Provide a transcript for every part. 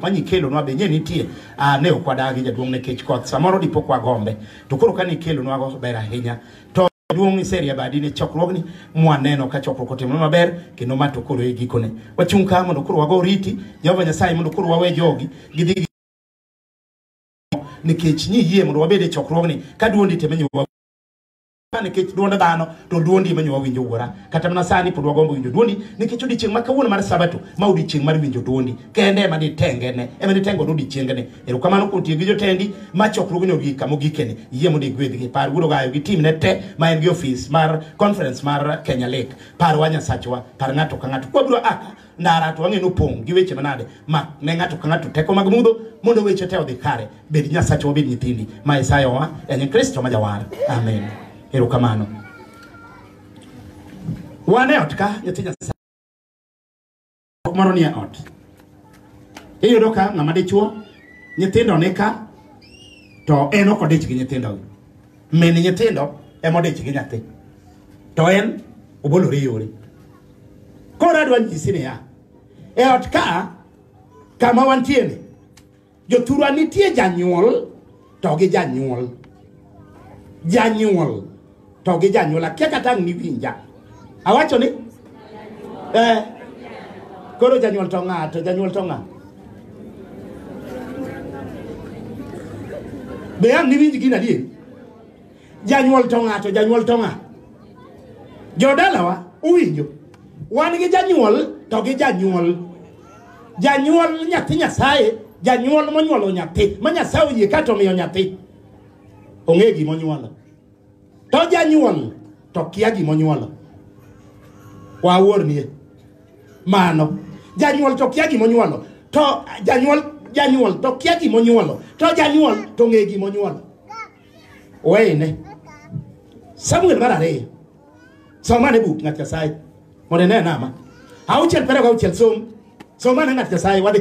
manyikelonwa be nye nitie ah, ne ok wadagi jaduong' nikech koth samoro dipo kwa gombe to koro ka nikelonwago ber ahinya to jaduong' iserie badi ne chokruogni mwaneno ka chokruok otimore maber kendo ma to koro e gikone wachung' ka mondo koro wago riti jehova nyasaye mondo koro wawe jogi gidhi gi- nikech niyie mondo wabed e chokruogni ka duondi temenyo nikech duond dhano to duondi ema nyowa winjo wuora kata mana sani pod wagombo winjo duondi nikech odiechieng' ma kawuono mar sabato ma odiechieng' mar winjo duondi kende ema ditengene ema ditengo do odiechiengene erokamano kuom tiyo gi jotendi ma chokruogni ogik kama ogikeni yie mondo igwedhgi par wuod ogayo gi timne te ma en gi ofis mar conference mar kenya lake parwa nyasachwa par ng'ato ka ng'ato kwabiro aka ndara to wang'e nopong' gi weche manade ma ne ng'ato ka ng'ato teko mag mudho mondo weche te odhi kare bed nyasache wabed nyithindi ma isayo wa en kristo ma jawar amen erokamano wan e ot ka nyathi nyasaye ok moro ni e ot iyudo ka ng'ama dichuo nyithindo ni ka to en ok odich gi nyithindogi min nyithindo emodich gi nyathi to en obolore yore koro adwa nyisi niya e ot ka kama wantieni jothurwa nitie janyuol to gi janyuol janyuol to gi janyuol akia kata ang' niwinja Awacho ni eh, koro janyuol to ng'a to janyuol to ng'a? Be ang' niwinj gino adier? Janyuol to ng'a to janyuol to ng'a? Jodalawa uwinjo? Wan gi janyuol to gi janyuol. Janyuol nyathi Nyasaye, janyuol monyuolo nyathi, ma Nyasaye oyie kato omiyo nyathi. Ong'e gima onyuolo. To janyuol to kia gima onyuolo. Waornie. Mano. Janyuol to kia gima onyuolo. To janyuol janyuol to kia gima onyuolo. To janyuol to ng'e gima onyuolo. Weyne. Samuel mar ariyo. Somane buk ng'at Nyasaye. Mondo ine nama. Auchiel pero gauchiel som. Somane ng'at Nyasaye wadhi.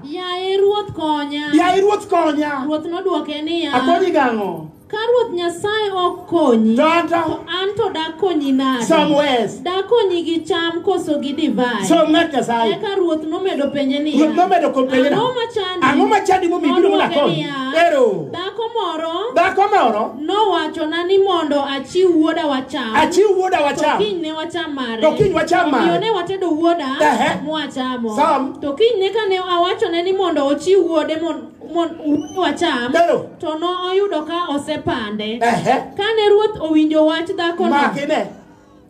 Yaye Ruoth konya. Yaye Ruoth konya. Ruoth nodwoke niya. Akonyi gang'o? Ka Ruoth Nyasaye ok konyi, to an to dakonyi nade? Some ways. Dakonyi gi cham koso gi divai. Som ng'at Nyasaye. Eka Ruoth nomedo penje niya. Ruoth nomedo kopenje na. Ang'o machandi? Ang'o machandi momiyo ibiro mondo akonyi? Ero. Dhako moro. Dhako moro. Nowachona ni mondo achiw wuoda wacham. Achiw wuoda wacham. To kinyne wacham mare. To kiny wacham mare. Omiyo ne watedo wuoda Ehe. mwachamo. Sam. To kiny ne kane awachone ni mondo ochiw wuode mon- mon- wuode wacham, Neno. to ne oyudo ka osepande. Ehe. Kane ruoth owinjo wach dhakono, makine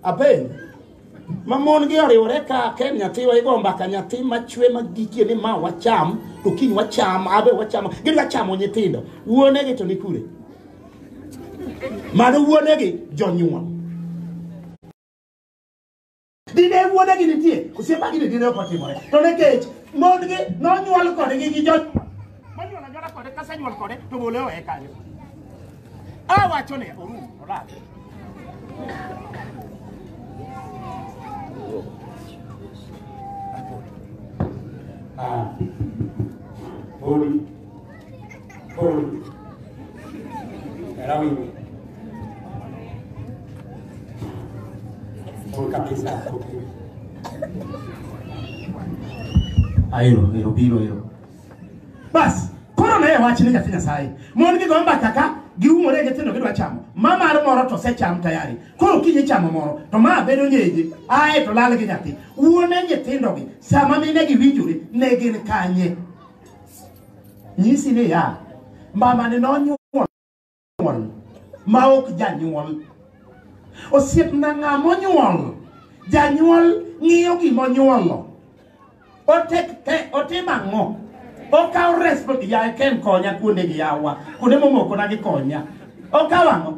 apen ma mon gi oriwore ka ken nyathiwa igo mbaka nyathi machwe magikie ni ma wacham to kiny wacham abe wacham gidwa chamo nyithindo wuonegi to ni kure Mano wuonegi jonyuol. Dine wuonegi nitie, osiepa gini dine ok otimore. To nekech mondgi nonyuol kodgi gi jo manyuol anyuola kode kasenyuol kode to bole owe kanyo. Awacho ne orum olal. Ah. Holy Boom. Rawi. Boom kabisa. Aero, ero biro ero. Bas, koro ne wach ni nyathi Nyasaye. Mon gi gomba kaka giumore gi tindo gidwa chamo. Ma mar moro to se cham tayari. Koro kiji chamo moro to ma bedo nyeje. Ae to lal gi nyathi. Wuone nyithindo gi sama mine gi winjore ne gin kanye. nyisi ni ya mamani nonyuol ma ok janyuol osiepna ng'a monyuol janyuol ng'iyo gima onyuolo otimo ang'o okawo respond yaye ken konya kuonde gi yawa kuonde momokona gi konya okawo ang'o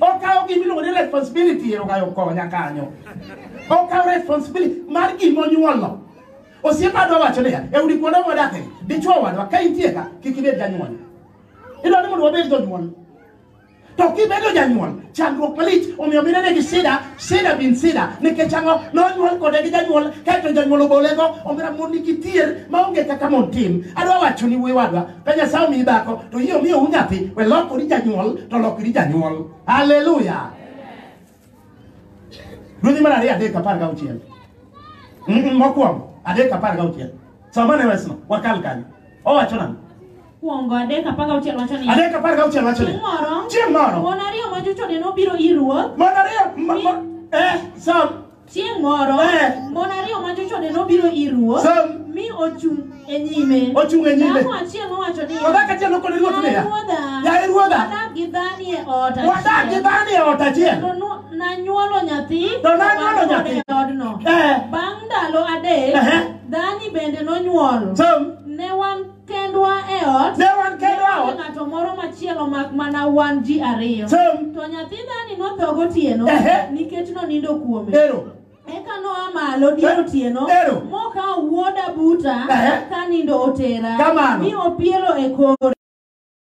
okawo gima iluongo ni responsibility erogayo konya kanyo okawo responsibility mar gima onyuolo Osiepa dwa wacho niya, e udi kuonde mwadakie, dichwo wadwa ka intie ka, kik ibed janyuol. Idwa ni mondo wabed jonyuol. To kibedo janyuol, chandruok malich omiyo minene gi sida, sida bin sida, nikech ang'o? Nonyuol kode gi janyuol, kaeto janyuol obolego, omira mon nigi tier maonge kaka mon tim. Adwa wacho ni wuoyi wadwa, ka Nyasaye omiyi dhako, to yie omiyo unyathi, we lokori janyuol, to lokri janyuol. Haleluya! Ruodhi mar ariyo adek apar gauchiel. Mm, Mokwongo adek apar gauchiel. Somane wesno wakal kanyo. Owacho nang'o? Kuongo adek apar gauchiel wacho ni. Adek apar gauchiel wacho ni. Chieng' moro. Chieng' moro. Mon ariyo ma jochode nobiro ir ruoth. Mon ariyo ma- ma- eh, som. Chieng' moro. Eh. Mon ariyo ma jochode nobiro ir ruoth. Som. Mi ochung' e nyime. Ochung' e nyime. Dhako achiel nowacho niya, To dhako achiel nokone ruoth niya, Yaye ruodha, wadak gi dhani e ot Wadak gi achiel, dhani e ot achiel. kendo nu- nanyuolo nyathi To nanyuolo wan kode nyathi. e odno. Eh. Bang' ndalo adek, Ehe. dhani bende nonyuol. Som. Ne wan kendwa e ot. Ne wan kendwa e ot. Ng'ato moro machielo mak mana wan ji ariyo. Som. To nyathi dhani notho gotieno Ehe. nikech nonindo kuome. Ero. Eka noa malo dier otieno Ero. mokawo wuoda buta Ehe. ka nindo otera Kamano. mi opielo e kore.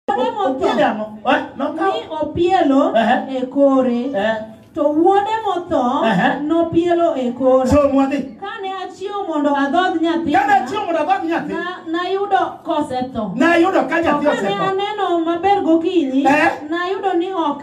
Wuode motho Opiele ang'o? Eh, nokawo? mi opielo Ehe. e kore. Eh, To wuode motho Ehe. nopielo e kora. so mwadhi. Kane achiew mondo adhodh Kane nyathina, achiew mondo adhodh nyathi, na- nayudo kosetho. nayudo ka To nyathi kane osetho. aneno maber gokinyi, Ehe. nayudo ni ok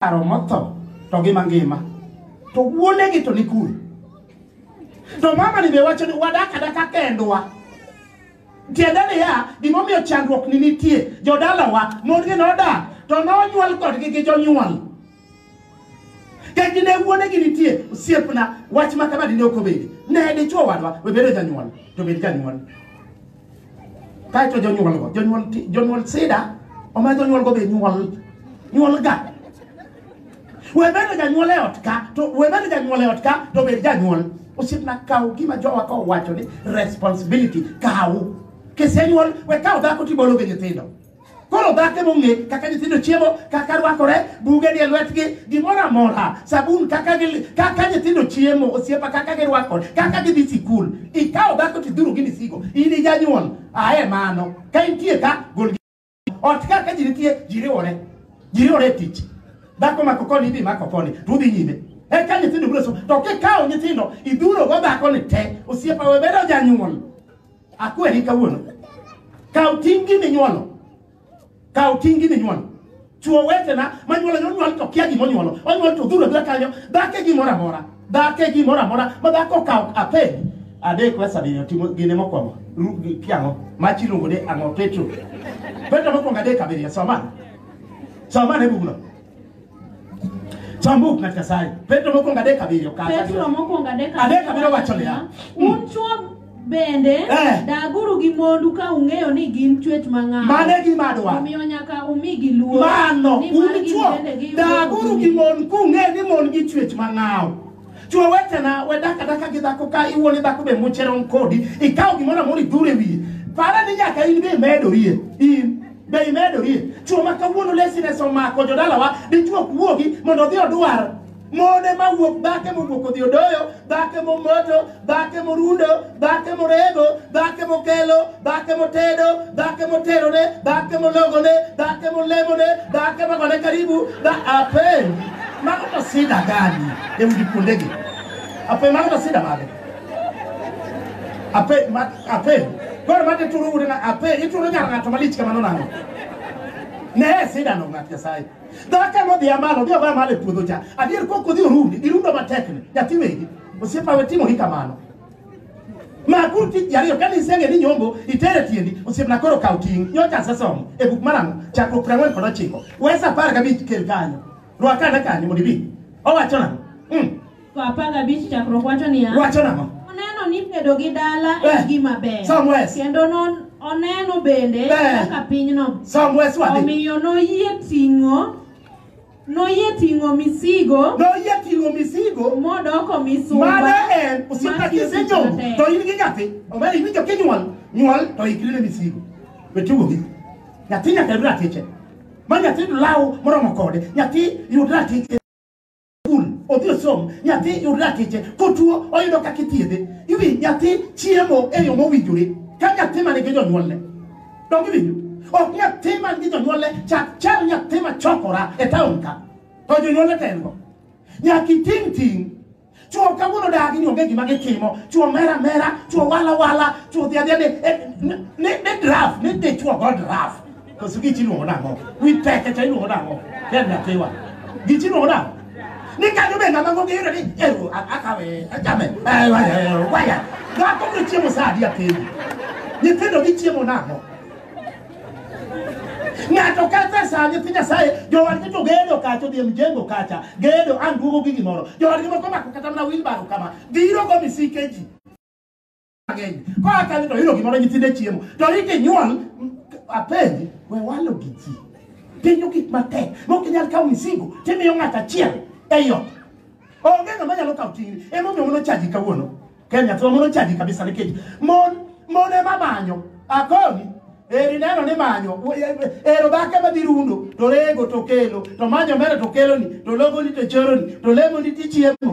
Paro motho to gi mangima. To wuonegi to ni kure. To mama ni be wacho ni wadak adaka kendwa. Tiende niya, gimomiyo chandruok ni nitie, jodalawa, mondgi nodak, to nonyuol kodgi gi jonyuol. Kech ne wuonegi nitie, osiepna, wach ma kama dine ok obedi. Ne dichwo wadwa, we bedo janyuol, to bed janyuol. kae to jonyuolgo jonyuol jonyuol sida omiyo jonyuolgo be nyuol nyuol ga we bedo janyuol e ot ka to we bedo janyuol e ot ka to bed janyuol osiepna kaw gima jowa ka owacho ni responsibility kaw kisenyuol we kaw dhako tibologe nyithindo koro dhako ema ong'e kaka nyithindo chiemo kaka rwakore buge ni e lwetgi gimoro amora sabun kaka gi- kaka nyithindo chiemo osiepa kaka girwakore kaka gidhi sikul ikawo dhako tidhuru gi misigo in ijanyuol ae mano ka intie ka gol gi- ot ka ka ji nitie ji riwore ji riwore e tich dhako mako koni idhi mako koni to udhi nyime eka nyithindo biro so to kikawo nyithindo idhurogo dhakoni te osiepa we bedo janyuol Akweri kawuono. Kaw tingi minyuolo. Kaw tingi minyuolo. Chuo wetena manyuolo nyuol to kia gimonyuolo. Onyuol to dhuro dhura kanyo. Dhake gimoro amora. Dhake gimoro amora. Ma dhako kaw apedi. Adek wesa bino timo gine mokwongo. Ru- gi- Kiang'o. Machi luongo ni ang'o Petro. Petro mokwongo adek abiriyo. Soma. Soma ne bugno. Chambuk ng'at Nyasaye. Petro mokwongo adek abiriyo kata. Petro mokwongo adek Adek abiriyo wacho niya, un chwo bende Eh. daguru gi mondu ka ung'eyo ni gin chwech mang'aw Mane gima adwaro. omiyo nyaka umigi luor Mano, nimar un gin chwo, bende giyudo daguru gi duong'gi. mon kung'e ni mon gi chwech mang'aw. Chwo wetena, we dak adaka gi dhako ka iwuon ni dhako be muchero kodi, ikaw gimoro amora idhure wiye. Para ni nyaka in be imedorie. In Be imedorie? Chwo ma kawuono laziness omako jodalawa, dichwo ok wuogi mondo odhi odwar mone ma wuok dhake mowuok odhi odoyo dhake momoto dhake morundo dhake morego dhake mokelo dhake motedo dhake moterone dhake mologone dhake molemone dhake magone karibu dha ape mago to sida gani e udi kuondegi ape mago to sida mage ape ma ape koro mate turo ute na ape ituro nyar ng'ato malich kamano nang'o ne sidano ng'at nyasaye dhaka nodhi amalo odhi ogoyo amalo e puodho cha adier kok odhi orundi irundo matekni nyathi wegi osiepa we timo gi kamano makuru tich ji ariyo kane isenge ni nyombo itere tiendi osiepna koro kaw ting' nyocha asesomo e buk mar ang'o chakruok piero ang'wen kod ochiko wes apar gabich kel kanyo rwakane kanyo mondo ibi owacho nang'o Mm. Go apar gabich chakruok wacho niya, Wacho nang'o? oneno ni bedo gi dala Eh, en gima ber somewhere else. kendo non- oneno bende Eh. kaka pinyno Somewhere else wadhi. omiyo noyie ting'o noyie ting'o misigo Noyie ting'o misigo modoko misumba mane en osiepa mar tich kisenyombo matek. to in gi nyathi omera iwinjo kinyuol nyuol to ikri ne misigo we tugo gi nyathi nyaka yud ratiche ma nyathi yud law moromo kode nyathi yud ratiche skul odhi osom nyathi yud lakteche kotuo oyudo kaka ithiedhe iwi nyathi chiemo e yo mowinjore ka nyathi man gi jonyuolne donge winjo ok nyathi man gi jonyuolne chak chal nyathi ma chokora e taon ka to jonyuolne to en go nyaka iting' ting' chuo kawuono dagi ni onge gima gitimo chuo mera mera chuo wala wala chuo dhi adhiya ni- eh, ni ni draft ni dichuo go draft koso gichi iluongo nang'o wi teke cha iluongo nang'o ken nyathiwa gichi iluongo nang'o ni kanyo be ng'ama ng'onge yudo ni eru akawe achame waya dhako biro chiemo sa adi apenji nyithindo gichiemo nang'o ng'ato kethe sa nyithi nyasaye jowadgi to gedo kacha odhi e mjengo kacha gedo an duogo gi gimoro jowadgi moko mako kata mana wilbaro kama biro go misike ji mang'eny koa kanyo to oyudo gimoro nyithinde chiemo to rit inyuol m- apenji we walo gi ji pinyo gik matek mok inyal kawo misigo timiyo ng'at achiel ei ot onge ng'ama nyalo kawo ting'ni emomiyo mono chaji kawuono kenya to mono chaji kabisa nikech mon mon ema manyo akoni eri neno ni manyo wo- e- e- ero dhake madhi rundo to rego to kelo to manyo mere to keloni to logoni to choroni to lemoni tichiemo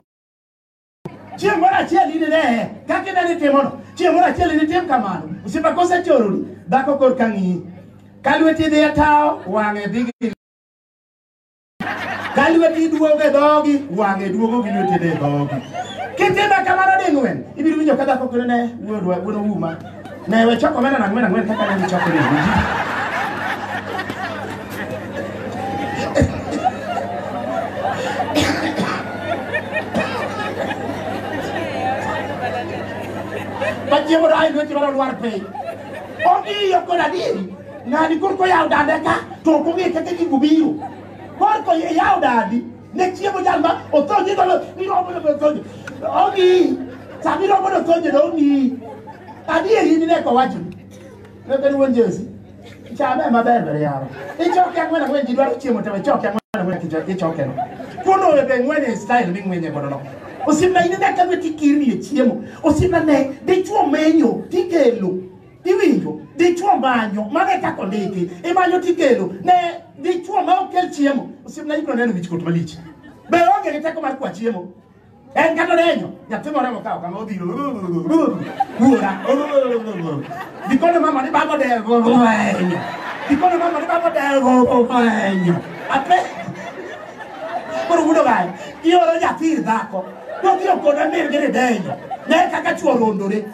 Chieng' moro achiel in ne kaka ine nitimono. Chieng' moro achiel in itim kamano. Osiepa kosechoroni, dhako kor ka ng'iyi. Ka lweti dhi e tawo, wang'e dhi gi ka lweti duogo e dhogi, wang'e duogo gi lweti dhi e dhogi. Kitime kamano ding'wen, ibiro winjo ka dhako kone ne wuodwa, wuon ouma. Ne we choko mena na ngwena ngwena kaka nani choko ni. Pachiemo rai nwe chiro lwar pe. Ogi yo koda di. Ngani kurko yaw dande ka to ko ngi kete ki gubiyo. Korko yaw dadi. Ne chiemo jal ma otho nyingo lo ni romo no otho. Ongi. Sami romo no otho nyingo ongi. Adi e yini ne ko wacho. Ne ben won Jesu. Chame ma ber ber yaro. Ichoke angwena ngwen ji dwaro chiemo tewe choke angwena ngwen kicho ichoke no. Kuno e ben ngwen e style mi ngwen e godo no. Osimna ine ne ka ti kiri e chiemo. Osimna ne dichuo menyo tikelo. Iwinjo, dichuo manyo, mano e kaka ondiki, imanyo tikelo ne dichuo ma ok kel chiemo. Osiepna ibiro neno wichkuot malich. Be onge gi teko mar kwa chiemo? En kata odenyo, nyathi moro mokawo kama odhiro. Wuora. Dikone mama ni baba odenyo. Dikone mama ni baba odenyo. Ape. Koro wudo gae, ioro nyathi ir dhako. Nodhiro koda mir gi ni denyo. Ne kaka chuo rondore.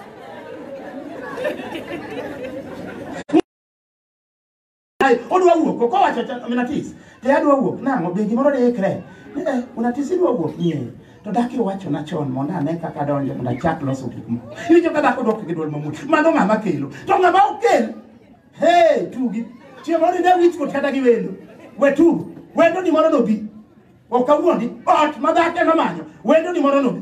Ai, odwa wuok koko wacho cha minatis te adwa wuok nang'o be gimoro diikre eh unatis idwa wuok nie to daki wacho na chon mondo ane kaka donjo mondo achak loso gik moko iwinjo ka dhako dok gi dwol mamut mano ng'ama kelo to ng'ama okel hey tugi chieng' moro ine wich kot kata gi wendo we tugo wendo ni moro nobi ok awuondi ot ma dhako ema manyo wendo ni moro nobi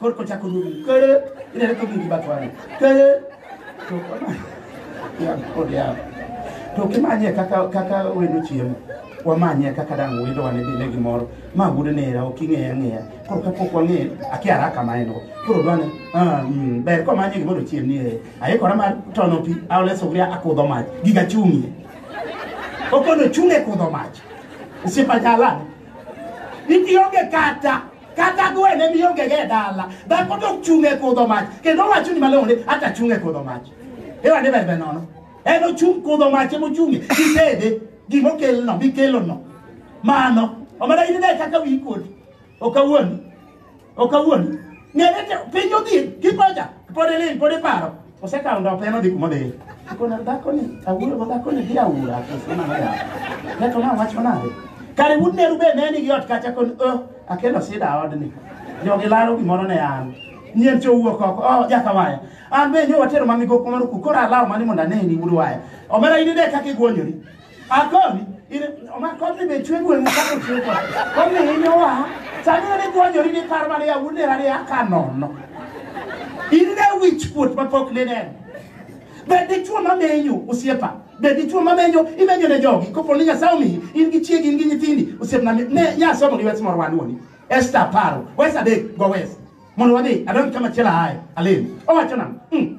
koro kochako nuru kere inene ka winji batwani kere to ya kod ya to kimanye kaka kaka wendo chiemo wamanye kaka dang wendo wane dine gimoro ma gude nera ok ing'eya ang'eya koro kapok wang'e akia haraka ma en go koro dwane ah, mm, ber komanye gimoro chiem ni eh, aikora mar tono pi aole sugria akudho mach giga chung'ie okono chung'e kudho mach osiepa jalan itionge kata kata gwene miongege e dala dhako to ochung' e kudho mach kendo owacho ni malong'o ni ata achung' e kudho mach iwane bebe nono en ochung' kudho mach emochung'e gitede gimokelno mikelono mano omana in ne kaka wi kodi ok awuondi ok awuondi ng'ere te- piny odhi kipoja pod ilil pod iparo Osekawo ndope en odhi kuma odhiye. Kona dhakoni, awuoyo go dhakoni gi aura. Osema na yawa. Kato na wacho nade? Kare wuod Meru be ne nigi ot kacha kon oh, akelo sida odni. Jogi laro gimoro ne an. Nyien cho wuok oko. Oh, jaka waya. An be nyo watero mamigo kumaro ku. Kora alawo mani mondo aneni wuod waya. Omera in ine kaka igwonyori. Akomi, ire, oma komi be chwe gwen kako chwe kwa. Komi inyo wa, sani ne gwanyori ni kar mane ya wune rari ya kanono. Ine wich kuot ma pok ne neno. Be dichuo ma menyo osiepa. Be dichuo ma menyo, imenyo ne jogi. Kopo ni Nyasaye omiyi, in gi chiegi, in gi nyithindi, osiepna mi- ne nyasomo gi wes moro wanuoni. Esther paro, wes adek go wes. Mondo wadhi, adonj kama chielo ahaye, alem. Owacho nang'o? Mm.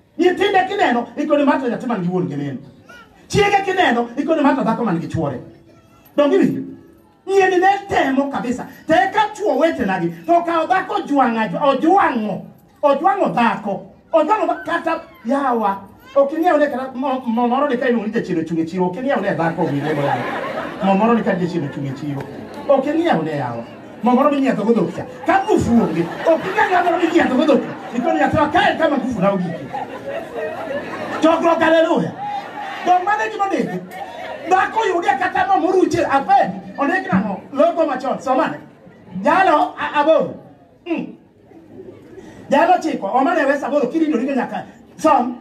nyithinde kineno ikone mata nyathi man gi wuon gi min chiege kineno ikone mata dhako man gi chuore donge winjo nyeni ne temo kabisa to eka chuo wetenagi to okawo dhako ojwang'a- ojwang'o ojwang'o dhako ojwang'o dha- kata yawa ok ing'eyo ne kata mo- mo moro ni ka iluongo ni jachien ochung' e chiro ok ing'eyo ne dhako winjego yawa mo moro ni ka jachien ochung' e chiro ok ing'eyo ne yawa Mamoro minyiedho go dhok cha. Ka ngufu onge, ok inyal yadhoro minyiedho go dhok. Ikono nyathwa kae kama ngufu na ogiki. Chokruok haleluya. Dong mane gima ndiki. Dhako yude kata mo moruche ape. Ondik nang'o? Logo machon. Somane. Jalo a- aboro. Mm. Jalo chiko oma ne wesa boro kirido ni nyaka som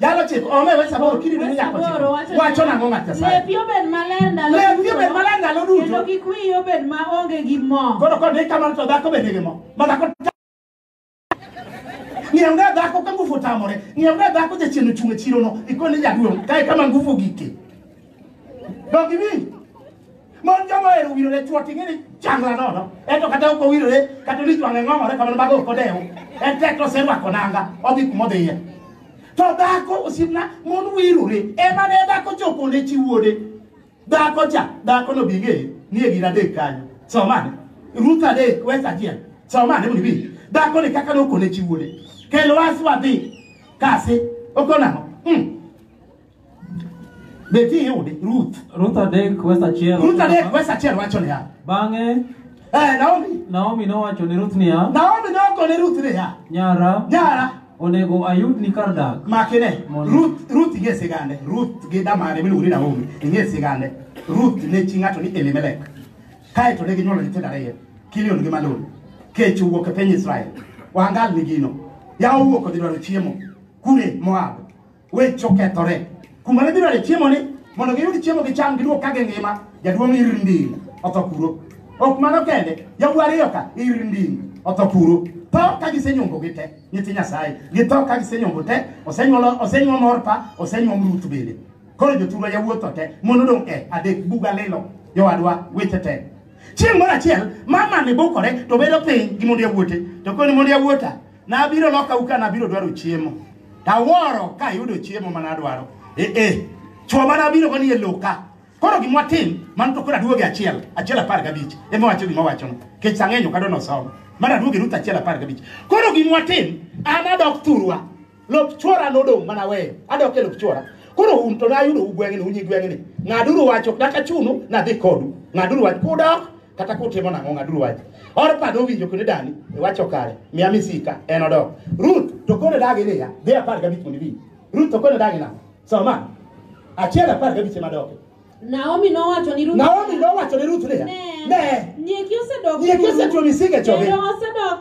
Jalo chiko oma wesa boro kirido ni nyaka chiko wacho na ngoma tesa Lepi obed maler ndalo Lepi obed maler ndalo duto Kendo kik wiyi obed ma onge gi mo Koro kod ni kamano to dhako bende gi mo ma dhako ng'iew ne dhako ka ngufu tamore ng'iew ne dhako jachien ochung' e chirono ikone jaduong' kae kama ngufu gike dog iwinj Mon joma ohero wirore chwo ting'e ni changla nono. Ento kata ok owirore kata ni jwang'e ng'ong'ore kamano mago ok odew. En tek to oserwako nanga odhi kuma odhiye. To dhako osiepna mon wirore ema ne dhako chopo ne chi wuode. Dhako cha dhako no bing'e ni e gir adek kanyo. Somane. Ruth adek wes achiel. Somane mondo ibi. Dhako ni kaka nokone chi wuode. Kel wasi wadhi. Kasi okonang'o. Mm. Be ti yude Ruth. Ruth adek wes achiel. Ruth adek wes achiel wacho niya. Bang'e Eh, Naomi. Naomi nowacho ne Ruth niya, Naomi noko ne Ruth niya. nyara, Nyara. onego ayudni kar dak. Makine. Mondo- Ruth Ruth ing'e sigande. Ruth gi damare miluongo ni Naomi. Ing'e sigande. Ruth ne chi ng'ato ni Elimelek. Kae to ne ginyuolo nyithindo ariyo. Kilion gi Malon. Kech owuok e piny Israel. Wangal ni gino. Yawo owuok odhi dwaro chiemo. Kure Moab. Weche okethore. Kuma ne gidware chiemo ni mondo giyud chiemo gicham giduog ka gingima, jaduong' Irndin otho kuro. Ok mano kende, yawuo ariyo ka Irndin otho kuro. Tho ka gisenyombo gi te, nyithi Nyasaye. Githo ka gisenyombo te, osenyuolo osenyuom Orpa, osenyuom Ruth bende. Koro joturwa yawuo tho te, mon odong' e adek buga lilo. Jowadwa weche te. Chieng' moro achiel, mama ne bukore to bedo piny gi mond yawuote. To koni mond yawuota, Nabiro loka u ka nabiro dwaro chiemo. Taworo ka ayudo chiemo mana dwaro. Eh eh. Chwo mana abiro koni e loka. Koro gimwa tim, man to koro aduoge achiel, achiel apar gabich. Ema wacho gima wacho. Kech sang'enyo kado no somo. Mana aduoge ruta achiel apar gabich. Koro gimwa tim, ana dok turwa. Lop chwora nodong mana weyo. Adok e lop chwora. Koro un to nayudo u gweng'ni, unyi gweng'ni. Ng'aduru wacho, kata chunu, nadhi kodu. Ng'aduru wacho, kudok, kata kutimo nang'o ng'aduru wach orpa nowinjo kendo dani iwacho kare miya misika en odok ruth to kone dagi niya dhi apar gabich mondo iwinj ruth to kone dagi nang'o soma achiel apar gabich ema doke Naomi nowacho ni Ruth naomi nowacho ne ruth niya Ne. ne Nyieki osedok. Nyieki osetuo misike choge. Kendo osedok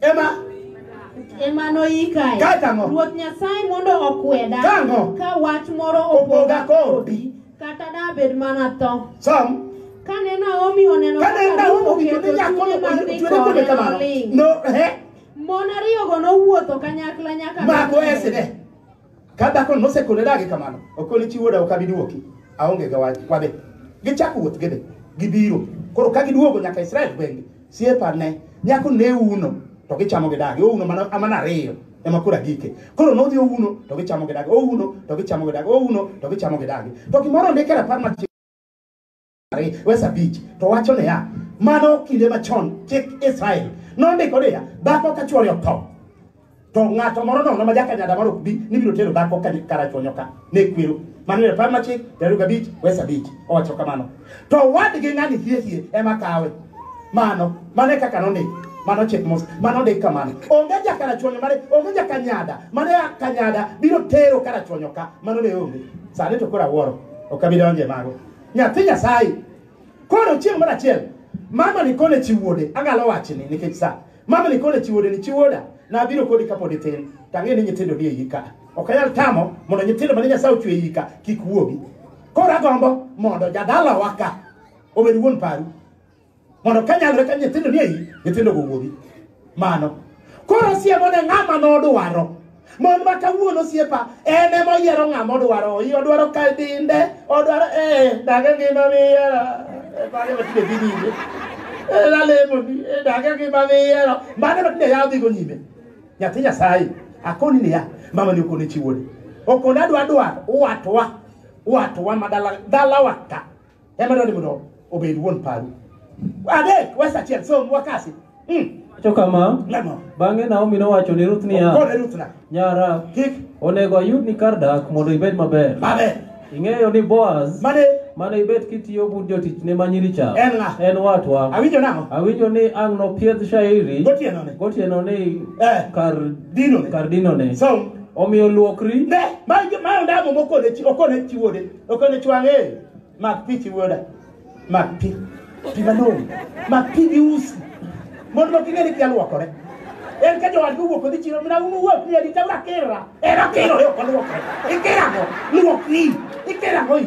Ema ema noyikae. Kata ang'o? Ruoth Nyasaye mondo okweda Ka ang'o? ka wach moro Opoga opoga kodi. kata dabed mana tho. Som. Kane Naomi oneno Kane kaka Naomi Ruth owinjo ni oketo nyako chunye mar dhi ochwere kode kode, kamano. noling'. No, eh, Mon ariyogo nowuotho kanyakla nyaka mako Bethlehem. esine. Ka dhakono nosekone dagi kamano, okoni chi wuoda ok abi duoki. Aonge gi wach, wadhi. Gichako wuoth gidhi. Gibiro. Koro ka giduogo nyaka Israel gweng'gi, siepa ne nyako ne uno to gichamo gi dagi. Ouno mana amana ariyo ema kura gike. Koro nodhi ouno to gichamo gi dagi. Ouno to gichamo gi dagi. Ouno to gichamo gi dagi. To gimoro ndike rapar machielo Ari- wes abich to wacho niya mano kinde machon chik israel nondiko niya dhako ka chwore otho to ng'ato moro nono ma jakanyada mar ok bi ni biro tero dhako ka karachonyo ka ne kwero mano ne par machik piero ariyo gabich wes abich owacho kamano to wadgi ng'ani hiehie ema kawe mano mano e kaka nondik mano chik mos mano ndik kamano onge jakarachonyo mane onge jakanyada mane a kanyada biro tero karachonyo ka mano ne onge sani to koro awuoro ok abi donje mago nyathi nyasaye koro chieng' moro achiel mama ni kone chi wuode agalo wachni nikech sa mama ni kone chi wuode ni chi wuoda nabiro kodi kapod itin to ang'e ni nyithindo ni e iyi ka ok anyal tamo mondo nyithindo mane nyasaye ochwe e iyi ka kik wuogi koro agombo mondo jadalawa ka obed wuon paru mondo ka nyalore ka nyithindo ni eyi nyithindo go wuogi mano koro siemo ne ng'ama nodwaro mon ma kawuono siepa en ema oyiero ng'ama odwaro oyi odwaro ka dinde odwaro ee dage ngima miyiero mane matinde dhi nyime lalemoni dage ngima miyiero mane matinde yawo dhigo nyime nyathi nyasaye akoni niya mamani okone chiwoni okone adwa dwaro watwa watwa ma dala dalawa ka ema dwani mondo obed wuon paru adek wes achiel som wakasi mm. To kama, lemo bang'e Naomi nowacho ni Ruth niya, kone ruth na Nyara, kik onego ayudni kar dak mondo ibed maber. mabe Ing'eyo ni Boaz mane mane ibet kitiyo bud jotichne ma nyiricha En ng'a? en watwa. awinjo nang'o Awinjo ni ang' nopiedh shairi gotienone gotieno ni Eh. kar dinone kar dinone. som Omiyo luokri ne ma ma ondamo mokone chi okone chi wuode Okelo chwang'e. Mak pi chi wuoda. Mak pi. Pi malong'o. Mak pi gi usi. Mon moko ing'e ni kia luokore. En ka jowadgi owuok odhi chiro mina umu wuok ni adi tawra kera. En okiro yo kod luokore. Ikera go. Luok ni. Ikera go.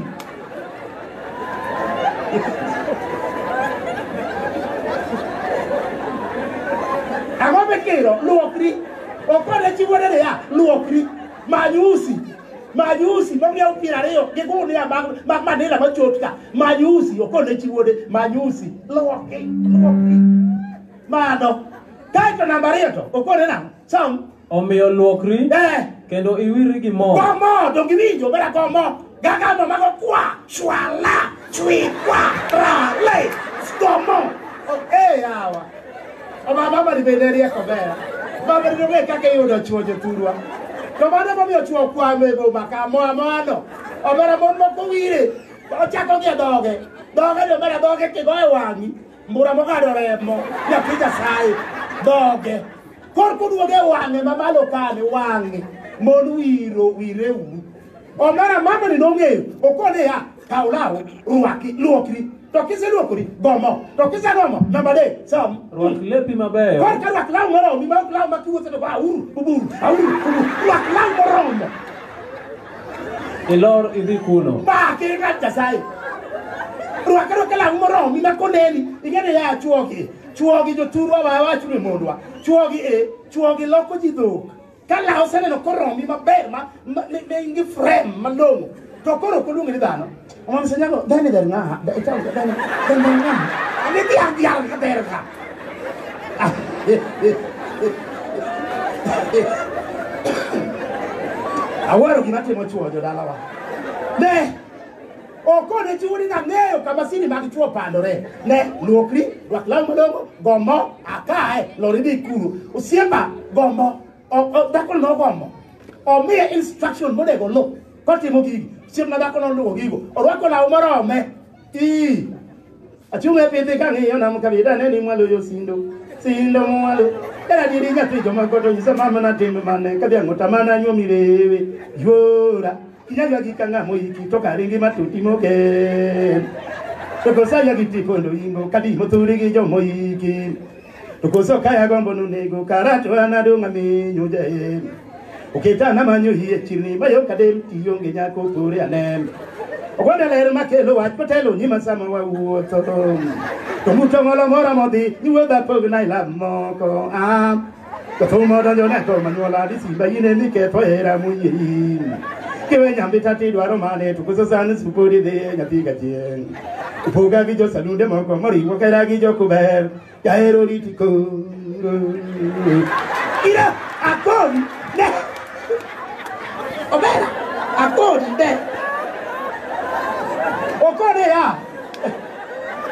Ang'o mikiro? Luokri. Okore chi wuoda ni ya. Luokri. Many usi. Majusi ma miya piero ariyo gi gunia mag mag manila machot ka. Majusi okone chi wuode majusi loki loki. Mano. Kaito namba ariyo to okone nang'o? Sam. Omiyo luokri Eh. kendo iwirri gi mo. Komo to giwinjo bera komo. Gaga mo mago kwa shwala chwi kwa rale. Komo. Oh, eh yawa. Oba baba ni bende rieko ber. Baba ni ong'e kaka iyudo chwo jothurwa. To mano momiyo chwo kwamo e boma ka moa moano. Omera mon moko wire. Ochako gi e dhoge. Dhoge ni omera dhoge kigo e wang'i. Mbura mogado remo. Nyathi Nyasaye. Dhoge. Kor kuduoge e wang'e mamalo kani wang'e. Mon wiro wire uru. Omera mama ni nong'eyo. Okone ya. Kaw law. Rwaki. Luokri. To kiseluokori, go mo. To kiseluoko mo, namba adek, sam. Rwak lepi mabeyo. Kor ka rwak law moromo, mi maok law ma kiwuotho to ba uru, uburu, auru, uburu. Rwak law moromo. Ilor idhi kuno. Ba ki ng'at Nyasaye. Rwak rwak law moromo, mi ma koneni, ing'eni ya chuogi. Chuogi joturwa wa wachu ni mondwa. Chuogi e, chuogi loko ji dhok. Ka law oseneno koromi maber ma ne in gi frame malong'o to koro ok oluongi ni dhano. Omam senyago dhani dher ng'aha. Dhani dher ng'aha. Ani dhi an dhiang' ka dher ka. Awaro gima timo chuo jodalawa. Ne! Okone chiwo ni nang'eyo kama siri mag chwo pandore. Ne, luokri, rwak law malongo, gombo, akae, lori dhi kuru. Osiemba, gombo, dhakono nogombo. Omiye instruction monego oluw kotimo gigi. Osiemna dhakono oluwo gigo. Orwako law morome. Ii. Achunge pidhi kang'iyo nam kabida ne ni mwalo yo sindo sindo mwalo era diri nyathi joma goto nyisa mama na tim mane kadhi ang'ota mana nyuomi rewe yuora inyalwa gi kang'a moiki to karingi matuti mogen to kosaya gi tipondo ingo kadi mothuri gi jomoiki To koso kaya gombo nunego karacho anadong' aminyo jaem. Oketa namanyo hie chirni mayo kadem tionge nyako pore anem. Ogwanda ler makelo wach kotelo nyima sama wawuotho. To muto ngolo mora modhi niwuodha pog na ilab moko. Ah. To thuma donjo ne to manyuola di simba yine ni ketho hera munyiri. Kiwe nyambi tati dwaro mane to koso sani supodi dhi nyathi gachieng'. Upoga gi jo salunde moko moriwo kera gi jo kuber. Jaero riti koro. Ira akoni ne. Obera akoni ne. Okone ya.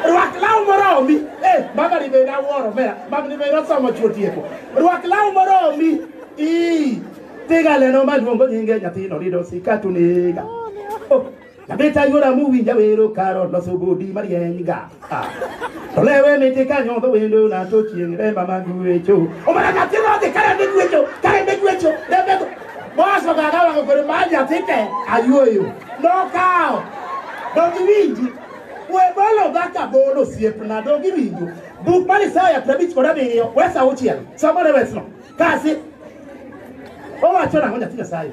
Rwak law moromi. Eh, baba ni beda woro mera. Baba ni beda somo chuo tieko. Rwak law moromi. Ii. Tiga leno maluongo nyinge nyathino rido sikatu nega. Oh. Nyamita yuora muwinja wero karo loso bodi marieny ga. Ah. To lewe miti ka nyodho wendo na to chieng' remba mag wecho. Omana nyathi rodhi kare ne gwecho, kare ne gwecho, rembe go. Boss ogaga wango kore ma nyathi te ayuoyo. Nokawo. Dog iwinji. We bolo dhaka bolo siepna dog iwinjo. Buk mar Isaya prabich kod abiriyo, wesa auchiel. Somore wesno. Kasi. Owacho nang'o nyathi Nyasaye?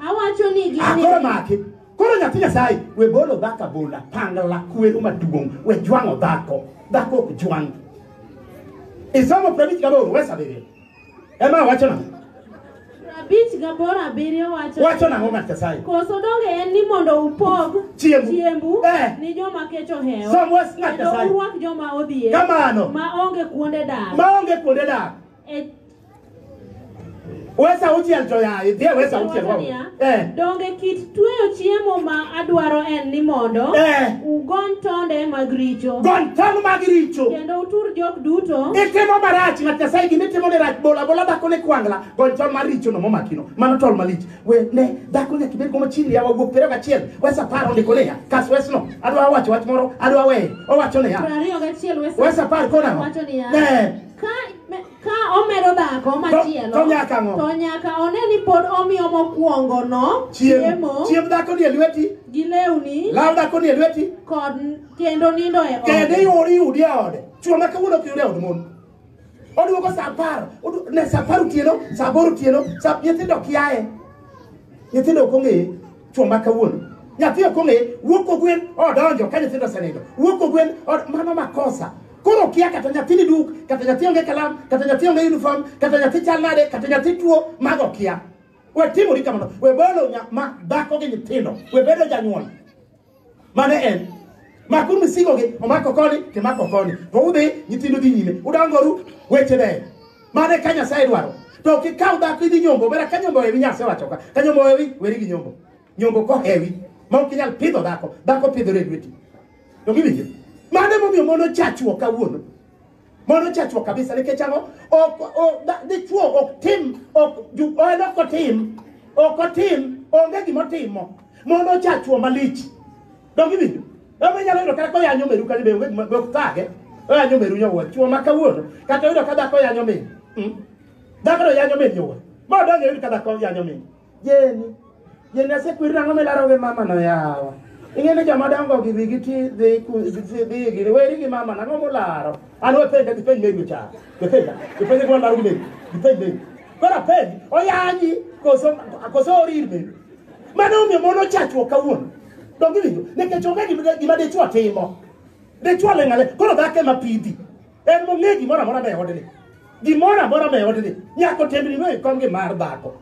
Awacho ni gini. Akoro maki. Koro nyathi Nyasaye we bolo dhaka bola pangla kwero maduong' we jwang'o dhako. Dhako ok jwang'. Isomo prabich gaboro we sabiri. Ema wacho na. Prabich gaboro abiriyo wacho. Wacho na ng'o Nyasaye. Koso donge en ni mondo upog chiembu, chiembu eh. ni joma kech ohewo. Somo was Nyasaye. Kendo urwak joma odhier. Kamano. Ma onge kuonde dak. Ma onge kuonde dak. E Wes auchiel to yaye, dhie wes auchiel. Wacho niya, Eh. Donge kit tweyo chiemo ma adwaro en ni mondo Eh. ugony tonde mag richo Gon tong' mag richo. kendo utur jok duto Itimo marach ng'at Nyasaye gima itimo ni rach bola bola dhako ne kwangla gon tol mar richo no momakino mano tol malich we ne dhako nyaka ibed koma chini yawa wuok pero gachiel wes apar ondiko niya kas wes no adwa wacho wach moro adwa weye owacho niya prariyo gachiel wes apar konang'o wacho niya Eh. Ka, ka omedo dhako To- machielo to nyaka ang'o? to nyaka one ni pod omiyo mokwongono Chiemo. Chiemb dhako ni e lweti, gi lewni law dhako ni e lweti, kod kendo nindo e kendo ode. iwuoro iyudi e ode. Chwo ma kawuono ok yud e od mon. Oduogo sa apar, odu- ne sa apar otieno, sa aboro otieno, sa nyithindo kiaye. Nyithindo ok ong'eye. Chwo ma kawuono nyathi ok ong'e wuok ogwen odonjo ka nyithindo osenindo wuok ogwen od- mano makosa koro okia kata nyathi ni duk kata nyathi onge kalam kata nyathi onge uniform kata nyathi chal nade kata nyathi tuo mago okia we timori kamano we bolo nya- ma dhako gi nyithindo we bedo janyuol mane en maku misigogi omako koni timako koni to udhi nyithindu dhi nyime udongoru weche ber mane ka nyasaye dwaro to kikaw dhako idhi nyombo bera ka nyombo hewi nyasaye wacho ka ka nyombo hewi weri gi nyombo nyombo kohewi ma ok inyal pidho dhako dhako pidhore e lweti to giwinjo mane momiyo mon ochachuo kawuono Mono chachwa kabisa nikech ang'o? Ok o- da- dichwo ok tim ok ju- en ok otim ok otim onge gima otimo mono chachwa malich. Donge winjo? Donge inyalo yudo kata koyanyo meru kani be onge gima be ok thage. Oyanyo meru nyowuoyi chwo ma kawuono kata yudo ka dhako yanyo min. Mm. Dhako no yanyo min nyowuoyi. Ma donge yudo ka dhako yanyo min. Jeni, jeni asekwer nang'o milaro gi mama no yawa. Ing'e ni joma dongo gi wigi ti dhi ku- dhi dhi gini weri gi mama nang'o mularo. An wepenja gi penj mego cha. Wepenja, wepenja gi walaro mego, gi penj mego. Kora penj, oyanyi koso koso orir mego. Mano omiyo mon ochachruok kawuono. Donge winjo, nikech onge gima gima dichwo timo. Dichwo ling'ale, koro dhako ema pidhi. En mong'e gimoro amora me odni. Gimoro amora me odni. Nyaka otembni no ikom gi mar dhako.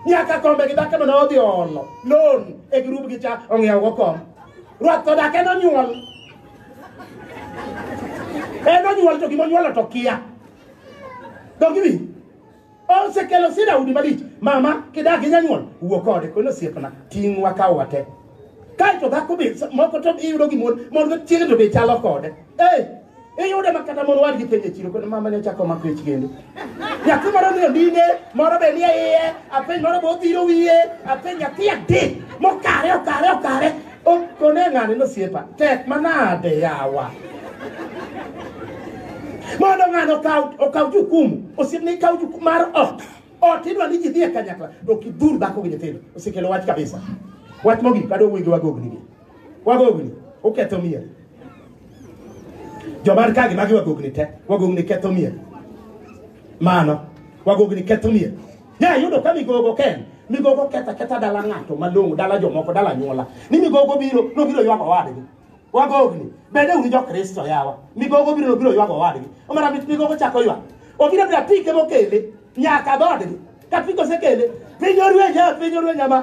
Nyaka kombe gi dhako mane odhi olo. Loan e grup gi cha ong'iewo go kom. Ruath to dak en onyuol. En onyuol to gima onyuolo to kia. Dongi wi. Osekelo sida udi malich. Mama, kidak gi nyanyuol, wuo kode kono osiepna, ting' wakaw wate. Kae to dhako be sa- moko to iyudo gi mon, mon go chiege to be chalo kode. Eh, iyude ma kata mon wadgi penjo e chiro kono mama ne chako mako ich kendo. Nyathi moro ni ondine, moro be nie iye, apenj moro be odhiro wiye, apenj nyathi adek mokare okare okare Kone ng'ani nosiepa tek manade yawa mondo ng'ano okaw jukumu osiepne ikaw jukumu mar ot ot idwa ni ji dhi e kanyakla to ok idhur dhako gi nyithindo osekelo wach kabisa wach mogik adwa wuoyi gi wagogni gi wagogni uketho mier jomar kagi magi wagogni te wagogni ketho mier mano wagogni ketho mier Ne ayudo ka migogo ken migogo ketha ketha dala ng'ato malong'o dala jomoko dala nyuola ni migogo biro nobiro ywago wadgi wagogni bende un jokristo yawa migogo biro nobiro ywago wadgi omara mit migogo chako ywak obiro bira pike mokele nyaka dhodgi ka pike osekele piny orwenye piny orwenye ma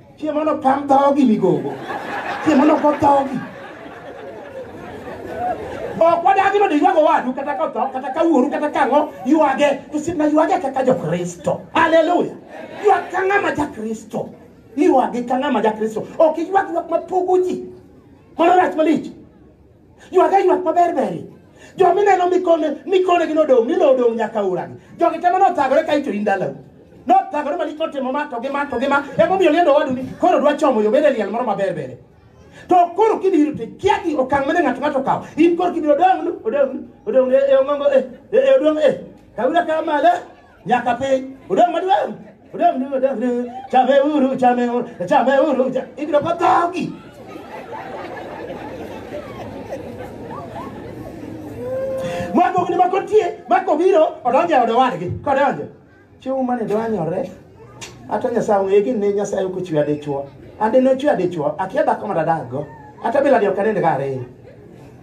Chieng' mano pam dhogi migogo. Chieng' mano go dhogi. Ok wadagi mondo iywago owadu kata ka otho kata ka wuoru kata ka ang'o ywage to sibna ywage kaka jokristo. Haleluya. Ywag ka ng'ama jakristo. Ywagi ka ng'ama jakristo. Ok iywag ywak mapogo ji. Mano rach malich. Ywag aywak maber beri. Jo mineno mikone mikone gi nodong' ni nodong' nyaka uragi. Jogi temo nothagore ka ito indalo. Nothagore malich notimo ma to gi ma to gi ma. Emomiyo liendo wadu ni koro dwa chomo yo bede liel moro maber bere. To koro kibiro to kia gi okang' mane ng'ato ng'ato kawo. In koro kibiro odong' nu odong' nu odong' e ongongo e e odong' e. Kawira kamale. nyaka piny odong' maduong' odong' ni odong' ni chame uru chame uru chame uru cha- ibiro ka dhogi mwagogni ma kotie ma kobiro odonjo e od owadgi kodonjo chiwo mane dwanyore ata nyasaye ong'e gi ne nyasaye ok ochwe adichwo ande nochwe adichwo akia dhako ma dadakgo ata bila dio kanende ka ariyo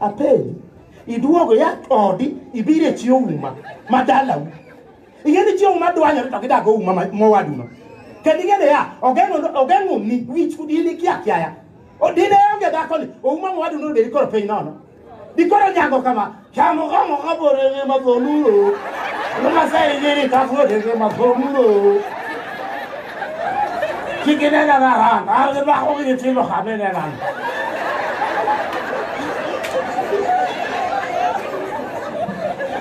apenji iduogo ya odi ibiro e chi ouma ma dalau ing'e ni chi ouma dwanyore to gidago ouma ma- mowaduno kendo ing'e ni ya ogeng'o- ogeng'oni wich kudini kia kiaya odine onge dhakoni ouma mowaduno odeni koro piny nono dikoro nyango kama chamogomo kaborenge madholulo nomaseinjiri kafuodenge madholulo Ki ke ne na ran, a re ba go ke tselo ga be ne ran.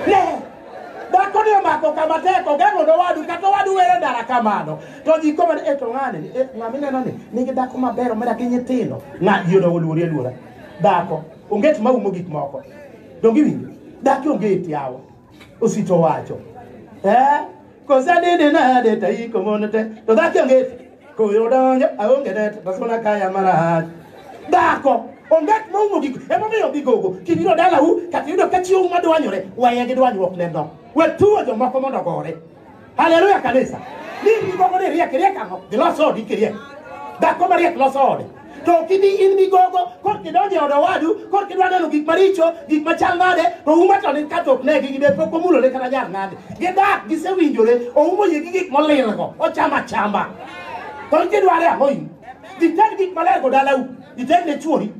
Ne. Ba ko ne ma ko kama te ko gano do wadu ka to wadu were dara kamano. To ji ko man eto ngane ni e ngami ne nani ni ke dako ma bero mera kinye tino. Nga yo do luri lura. Dako onget ma umo gik moko. Dongi winjo. Dako onget yawo. osito wacho eh kosadede nade taiko monete to dhaki onge koyo donjo aonge nete tasona kaya marach dhako ongat moumo giko emomiyo gigogo kibiro dalau kata yudo ka chiwo madwanyore weye gi dwanyruok neno wetuo jomoko mondo gore Haleluya kanisa. Ni migogo ni riek riek ang'o? Gilos odi kiriek. Dhako mariek loso ode. To ok ibi in migogo kor kidonjo e od owadu kor kidwa neno gik maricho gik machal nade to uma to ni ka to ok negi gibed pok omulore kata jar nade. Gidak gisewinjore oumo yie gi gik molilgo ochamo achamba. To in kidware ang'o in? Ited gik maler go dalau. Ited ne chuori.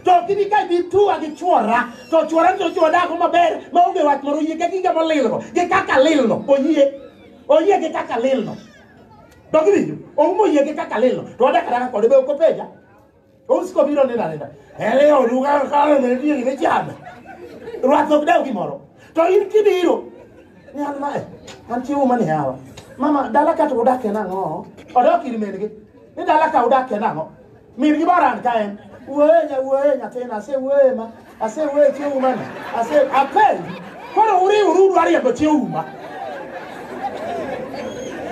to ok ibi ka ibi tuwa gi chwora to chwora to chwo dako maber ma onge wach moro oyie gi gige molilgo gi kaka lilno oyie oyie gi kaka lilno dok iwinjo oumo oyie gi kaka lilno to wadak adaka kode be ok openja ousiko biro neno anena ele oduga kalo ne niye ne chama rwath ok dew gimoro to in kibiro ni an mae an chiwo mani hawa mama dala ka to udakie nang'o odok ir min-gi ni dala ka udakie nang'o Min gi baran ka en. Wuoye nya wuoye nyathina ase wuoye ma ase wuoye tie uma ni. Ase apel. Koro uri uru dwari yabo tie uma.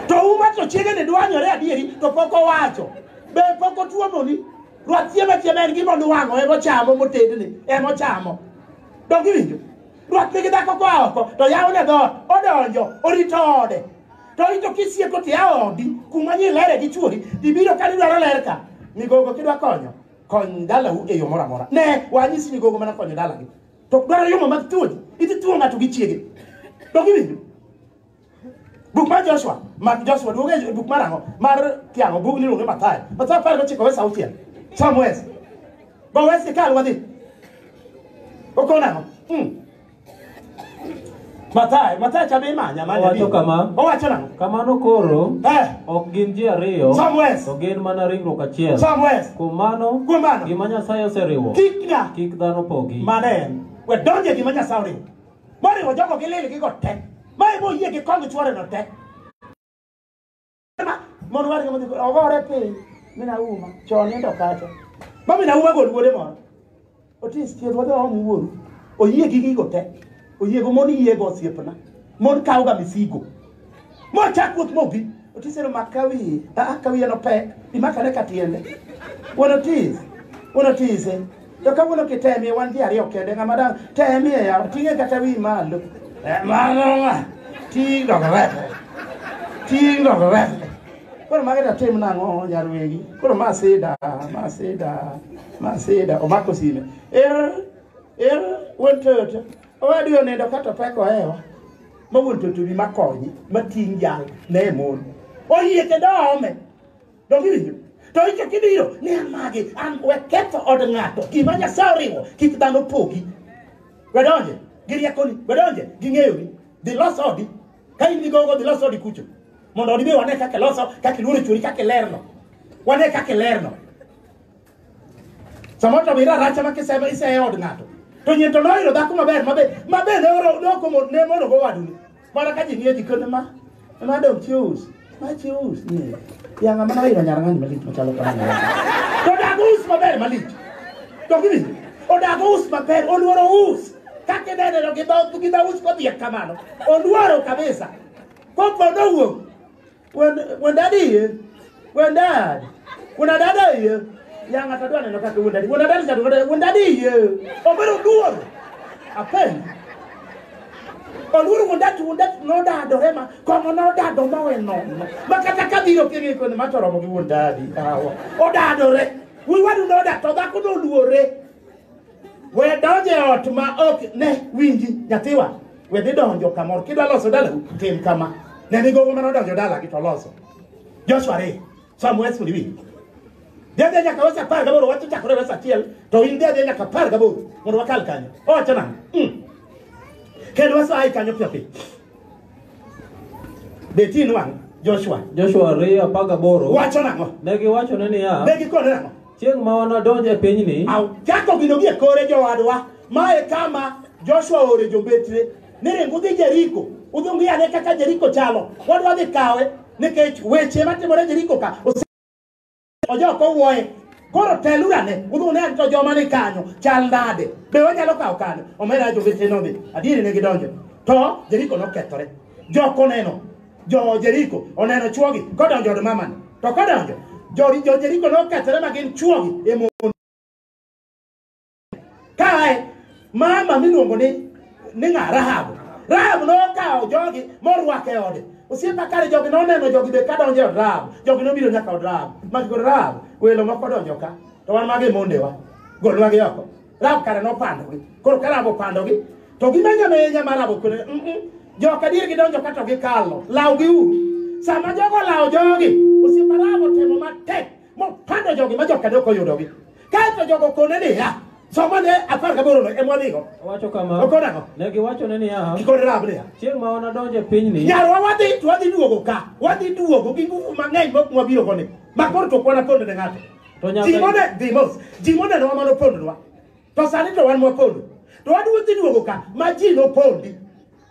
To uma to chiege ni dwanyore adieri to pok owacho. Be pok otuomo ni. Ruath chiema chiema en gima nuwang'o emo chamo motedni emo chamo. Dongi winjo. Ruath nigi dhako kwa oko to yawo ne dhoot odonjo orito ode. to ito kisieko ti aodi kuma ni lere gi chuori ibiro ka dwaro ler ka migogo kidwa konyo kony dalau e yo moro amora ne wanyisi migogo mana konyo dalagi to dwaro yomo mag thuoji idhi thuo ng'ato gi chiege to giwinjo buk mar joshua mak joshua duoge e buk mar ang'o mar kiang'o bug niluonge mathayo mathayo apar gochiko wes auchiel sam wes go wes ikal wadhi okona ang'o hmm. Mathayo, Mathayo cha be imanya manya. Owacho bi. kama. Owacho nang'o? Kamano koro Eh, ok gin ji ariyo Samuel. to gin mana ringruok achiel. Samuel. Kuom mano, Kuom mano. gima Nyasaye oseriwo Kik na kik dhano pogi. mane en. We donje gima Nyasaye oriwo. Moriwo jogo gi lil gi go te. Ma emo yie gi kong chwore no te. mondo wargi modhi ogore piny mina uma chon nindo kacha ma mina uma gol wuode moro otis thieth wadhi waom wuoru oyie gi gigo te oyiego mon yiego osiepna mon kawga misigo mochak wuoth mobi otis ero mak kawiye aa kawiye nopek imakane ka tiende wuon otis wuon otise To kawuono kitemie wan ji ariyo kende ng'ama dang' temie yawa ting'e kata wi malo. Eh, Mano ng'a? Ting' dog rete. Ting' dog rete. Koro mage to tim nang'o nyar wegi? Koro ma sida, ma sida, ma sida. Omako sime. Er, er, wuon toto. Owadu onindo kata opek ohewa. Ma wuon toto bi makonyi, ma ting' jal, ne mon. Oyie kendo ome. Donge iwinjo? To icho kibiro ni an magi, an we ketho od ng'ato. Gima Nyasaye oriwo, kik dhano pogi. We donje gi riekoni, we donje gi ng'eyoni. Dhi los odi. Ka in gi gogo, dhi los odi kucho. Mondo odi be wane kaka iloso, kaka iluoro chwori, kaka ilerno. Wane kaka ilerno. Samoro to mira racha ma kisema iseye od ng'ato. To nyen to noyudo dhako maber mabe mabe ne oro ne okomo ne mono go wadu. Mana ka ji nie ji kono ma ma dong chius. Ma chius ni. Ya ng'ama na ira nyara ng'ani malit machalo kamano. To dago us maber malit. To gini odago us maber oluoro us. Kake dede no gidho gidho us kodhiek kamano. Oluoro kabisa. Kopo nowuok When, when daddy here, when dad, when a dada here, yang ata dwa neno kaka when daddy, when a dada chato kata when daddy here, obero duor, apen. Oluoro when dad, when dad no dad orema, komo no dad omo we no. Makata kabiro kiri kone matoro mo gi when daddy, awa. Odadore, we wadu no dad, to dhako no luore. We donjo e ot ma ok ne winji nyathiwa. We dhi donjo kamoro. Kidwa loso dalau, tim kama. Ne ni gogo mane odonjo dalagi to loso. Joshua ariyo. Sam West ni winji. Dhi adhiya nyaka wesa apar gaboro, wach ochakore wesa achiel, to in dhi adhiya nyaka apar gaboro mondo wakal kanyo. Owacho nang'o? Mm. Kendo wesa ai kanyo piyo piyo. Beti inwang' Joshua. Joshua ariyo apar gaboro Wacho nang'o? ne giwachone niya, Ne gikone nang'o? Chieng' ma wanadonj e pinyni, Au, chako gino gie kore jowadwa ma e kama joshua oore jombetre ni ring udhi jeriko udhi ung'i ane kaka jeriko chalo wadwa dhi kawe nikech weche matimore jeriko ka ose- ojok owuoye koro teluru ane udhi une ane to joma ni kanyo chal nade be wanyalo kawo kanyo omera jombetre nodhi adieri ne gidonjo to jeriko nokethore jok oneno Jo Jeriko oneno chwogi kodonjo od mamani. To kodonjo, jo, jo Jeriko nokethore ma gin chwogi e mon. Kae mama miluongo ni ni ng'a Rahabu. Rahabu nokawo jogi morwako e ode. Osiepa kare jogi noneno jogi be kadonjo e od Rahabu. Jogi nobiro nyaka od Rahabu. Magi kod Rahabu, welo moko donjo ka. To wan magi mondewa. Golnwagi oko. Rab kare nopandogi. Koro ka Rab opandogi, to gimenyo menya ma Rab okwere. Mm -mm. Joka dier gidonjo ka to gikalo. Lawgi uru. Sama jogo lawo jogi, osiepa Rab otemo matek mopando jogi ma joka dok oyudogi. Kaeto jogo kone niya, somo ne apar gaboro no ema nigo. Owacho kama, Okone ang'o? ne giwachone niya, Gikone Rab niya. chieng' ma wanadonj e pinyni, Nyarwa wadhi to wadhi duogo ka. Wadhi duogo gi nguvu mang'eny mok mwabiro koni. Ma koro to kwana kone ne ng'ato. To Nyasaye- Ji mode dhi mos. Ji mode no mano pondwa. To sani to wan mwapondo. To wadwa dhi duogo ka ma ji nopondi.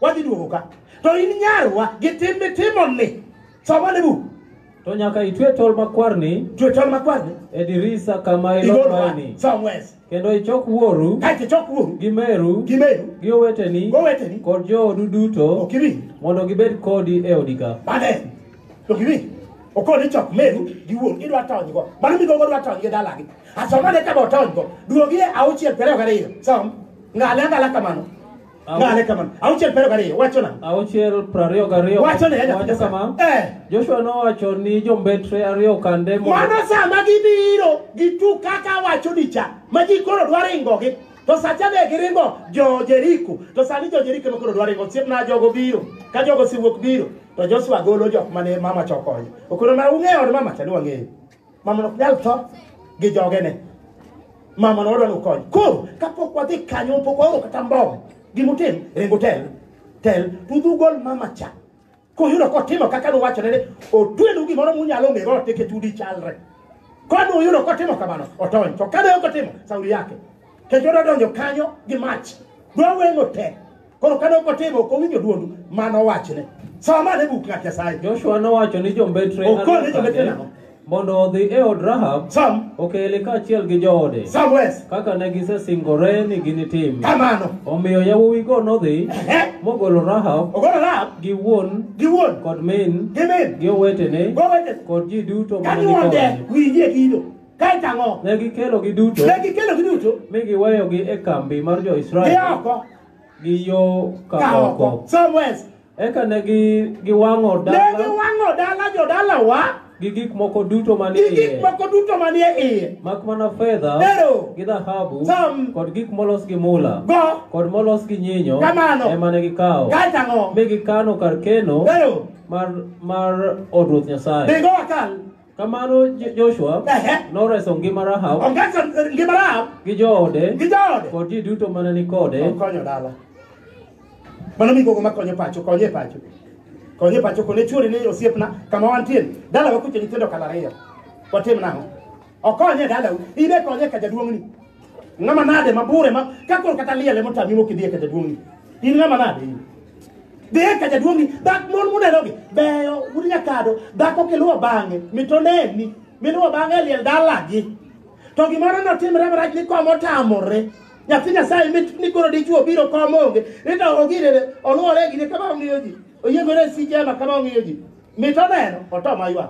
Wadhi duogo ka. To in nyarwa gi tim mitimo ni. Somo ne bu. To nyaka itwe tol makwarni Jwe tol makwarni. e dirisa kama Igolwa. ilondoeni. Somewhere. Kendo ichok wuoru kaeto ichok wuoru gi meru gi meru gi oweteni goweteni kod joodu duto ok iwinj mondo gibed kodi e odi ka. mane to giwinj okoni chok meru gi wuoru idwa tonygo mano migogo dwa tony gi dalagi asomane kama otonygo duogie auchiel piero ariyo gariyo som ng'ale ang'ala kamano Au- Ngale kama. Auchiel pero gariyo wacho na. auchiel prariyo gariyo Wacho ne wacho kama Eh. joshua nowacho ni jombetre ariyo kande mondo- Mano sama gibiro gitu kaka wacho ni cha. Ma ji koro dwa ringo gi. To sacha ne giringo jo Jeriko. To sani jo Jeriko ma koro dwa ringo. Siep na jogo biro. Ka jogo siwuok biro. To Joshua golo jok mane mama chokonyo. Okoro ma ung'eyo od mama cha ni wang'eyo. Mamano ok nyal tho gi jogene. Mamano wadwa nokony. Koro kapok wadhi kanyo pok waoro kata mbom. Gimutim ringo tel. Tel tudhu gol mama cha. Kuyudo kotimo kaka nuwachone ni otwenu gimoro munyalo ng'ego teke tudi chalre. Kwani uyudo kotimo kamano otony. To kane ok otimo sauri yake. Kendo odonjo kanyo gi mach. Dwa weng'o tel. Koro kane ok otimo, ok owinjo dwond ma nowachne. Som ane bug ng'at Nyasaye. Joshua nowacho ni jombetre Okor ni jombetre ariyo nang'o? mondo odhi e od Rahab Som, okele kaachiel gi joode som wes. kaka ne gisesingore ni ginitim. Kamano. Omiyo yawuowigo nodhi Ehe. mogolo Rahab Ogolo Rahab gi wuon gi wuon kod min gi min. gi owetene Gowete. kod ji duto mane ni Kanyuonde kode. winjie kido. Kaeto ang'o? Ne gikelogi duto Ne gikelogi duto. mi giweyogi e kambi mar jo-Israel Gioko. gi yo ka ka oko oko somewhere else. eka ne gi- giwang'o Ne dala giwang'o dala jodalawa gi gik moko duto manie gi gik iye moko duto manie iye. mak mana fedha Ero. gi dhahabu Sam. kod gik molos gi mula Go kod molos gi nyinyo Kamano. ema ne gikawo kae tang'o. mi gikano kar keno Ero. mar mar od ruoth nyasaye Dhigo akal. Kamano Jo- Joshua Ehe. noreso ngima Rahab Ongeso ngima Rahab gi joode gi jaode. kod ji duto mane ni kode. Okonyo dala. Mano migogo makonyo pacho, konye e pacho. Konye e pacho kone chuori ni osiepna kama wantie. Dala wakuche nyithindo kala ariyo. Watim nang'o? Okonye e dalau. Ibe konye ka jaduong'ni. Ng'ama nade ma bure ma ka koro kata liel ema otami mok idhi e ka jaduong'ni. In ng'ama nade in? Dhi e ka jaduong'ni, dak mon munerogi beyo un nyakado, dhako kiluwo bang'e mitoneni, miluwo bang'e e liel dalagi. To gimoro notimre marach ni kom otamore. Nyathi Nyasaye mit ni koro dichwo biro kom onge, ni to ogirene oluwore gi ne kama ong'iyo ji. Oyiengore e sije ema kama ong'iyo ji. Mit oneno, otoma ywak.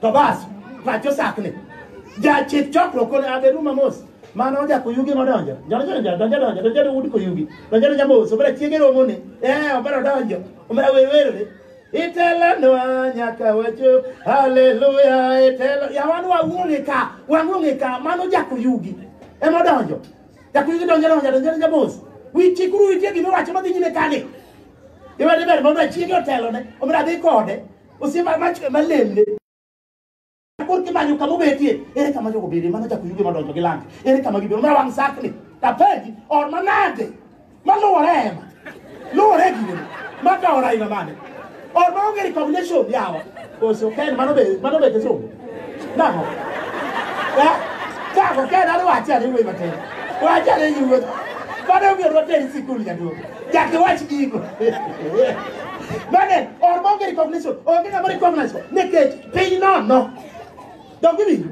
to bas pacho sakni jachik chokruok kone abedu mamos mano ojako yugi nodonjo donjodonjo donjodonjo donjodo ud koyugi donjodonjo mos obera chiege romone ee obera odonjo obera werwerore itelanwa nyaka wacho haleluya itelo yawan wawuong'e ka wang'ong'e ka mano jako yugi emodonjo jako yugi donjodonjo donjodonjo mos wichikuru witie gima wacho madhi nyime kani iwede ber mondo achiege otelone obera dhi kode osiepa mach ema lemne koro kimanyo kama obetie ere kama jogo bede mano chako yuge madonjo gi lange ere kama gibiro mara wang' sakni tapenji or manade maluwore ema luwore gine makaora ina mane or maonge recognition yawa koso ken mano be mano be kisungu Dako. Eh? Dako ka en wache ani wuoyi matin. Wache ani yi wuoyi. Bado mi ruote ni sikul jaduo. Jaki wach gigo. Mane or monge recognition. Onge ng'ama recognize ko. Nikech piny nono. Donge ni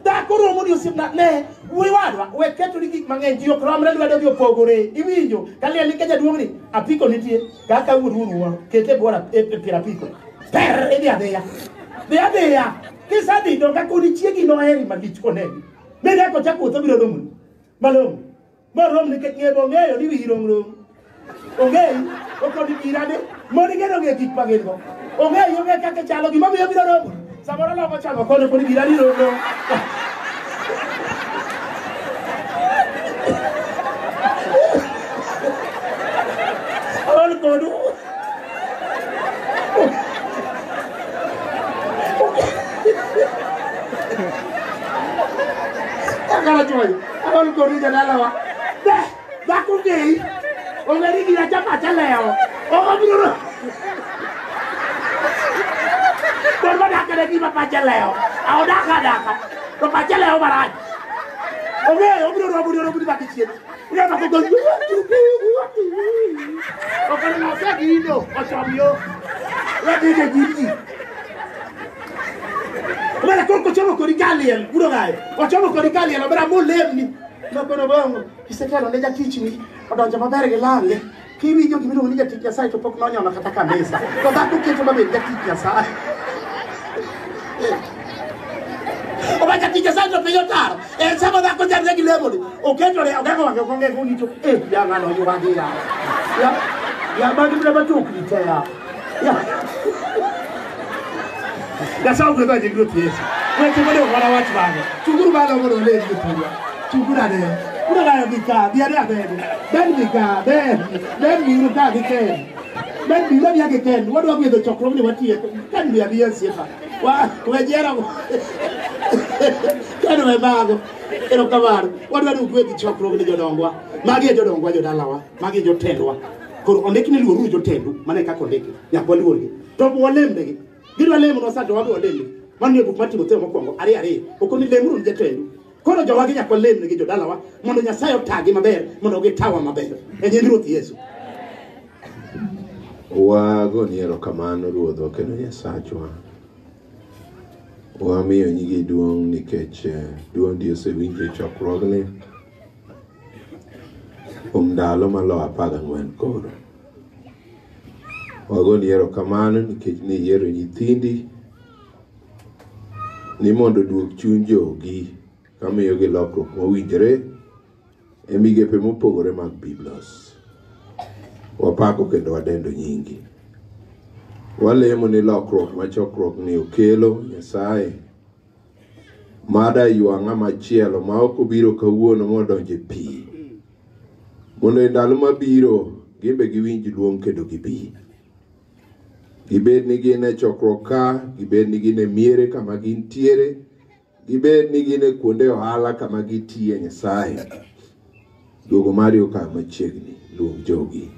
dhako romo ni osiepna ne wuoyi wadwa we keto ni gik mang'eny ji ok romre lwedo gi opogore iwinjo ka liel ni ka jaduong' ni apiko nitie Kaka wururuwa, kete bora e e pira piko. Per idhi adhiya. Dhi adhiya. Kisadhi to ka kodi chiegi noheri malich koneni. Mi ka kocha kuotho biro romo. Malong. Ma rom nikech ng'e bo ng'eyo ni wiyi rom rom. Ong'eyi, okoni irane, moni geno ng'e gik ma gin go. Ong'eyi ong'e kaka chalo gima miyo biro romo. Samoro loko chako kono pod gira ni rondo. Aol kodu. Akala choi. Aol kodu jadalawa. Dhako ng'eyi, ong'eri gi acha pacha lewo. Ok obiro ro- Mon modak kode gima pache lewo. A odak adaka, to pache lewo marach. Ong'eyo, obiro romo ni oromo ni bang' chien. Ong'eyo mako gol, ok oneno osegino, ochom yo. Wedine nyim ji. Omera koro kochomo kodi kaliel, buro gaye. Ochomo kodi kaliel, omera molemni. Nokono bang' kisetelo ne jatichni odonjo maber gi lange kiwinjo gima iluongo ni jatich Nyasaye to pok nonyono kata kanisa to dhako keto mabed jatich Nyasaye oba jatich Nyasaye to piny otaro en sama dhako chandre gi lemoni oketore ogeng'o wang'e ok ong'e kong'icho eh ya ng'ano oyuwagi ya ya ya magi mna matokni te ya Nyasaye ogwedho nying Ruoth Yesu. Weche mane owara wach bang'e. Chunguru malo mondo one ji tuwa. Chunguru ane. Una nayo gi ka, bi ane abedi. Ben gi ka, ben. Ben gi uru ka gi ken. Ben gi uru gi ken. Wadwa gwedho chokruok ni watiye. Kan bi abiye siepa. Wa, we jera. Kan we bago. Erokamano. Wadwa ni ugwedhi chokruok ni jodongwa. Magi e jodongwa jodalawa. magi jotendwa koro ondik ni luoruru jotendu mana e kaka ondiki nyaka waluorgi to ok walembnegi gidwa lemonwa sa to wabe walembgi mano e buk mar timotheo mokwongo ariyo ariyo ok ni lemuru ni jatendu koro jowagi nyaka walemnegi jodalawa mondo nyasaye otagi maber mondo gitawa maber e nying ruoth yesu wagoni erokamano ruodhwa kendo nyasachwa wamiyo nyigi duong' nikech eh, duondi osewinjo e chokruogni kuom ndalo malo apar gang'wen koro. Wagoni erokamano nikech ne iyiero nyithindi ni mondo oduog chuny jogi kamiyogi lokruok mowinjore e migepe mopogore mag Biblos. Wapako kendo wadendo nyingi. Walemo ni lokruok ma chokruokni okelo Nyasaye mada ywa ng'ama chielo ma ok obiro kawuono modonje pi mondo e ndalo mabiro gimbe giwinj luong kendo gibi gibed ni gin e chokruok ka gibed ni gin e miere kama gintiere gibed ni gin e kuonde ohala kama gitiye nyasaye duogo mari okayo machiegni luong jogi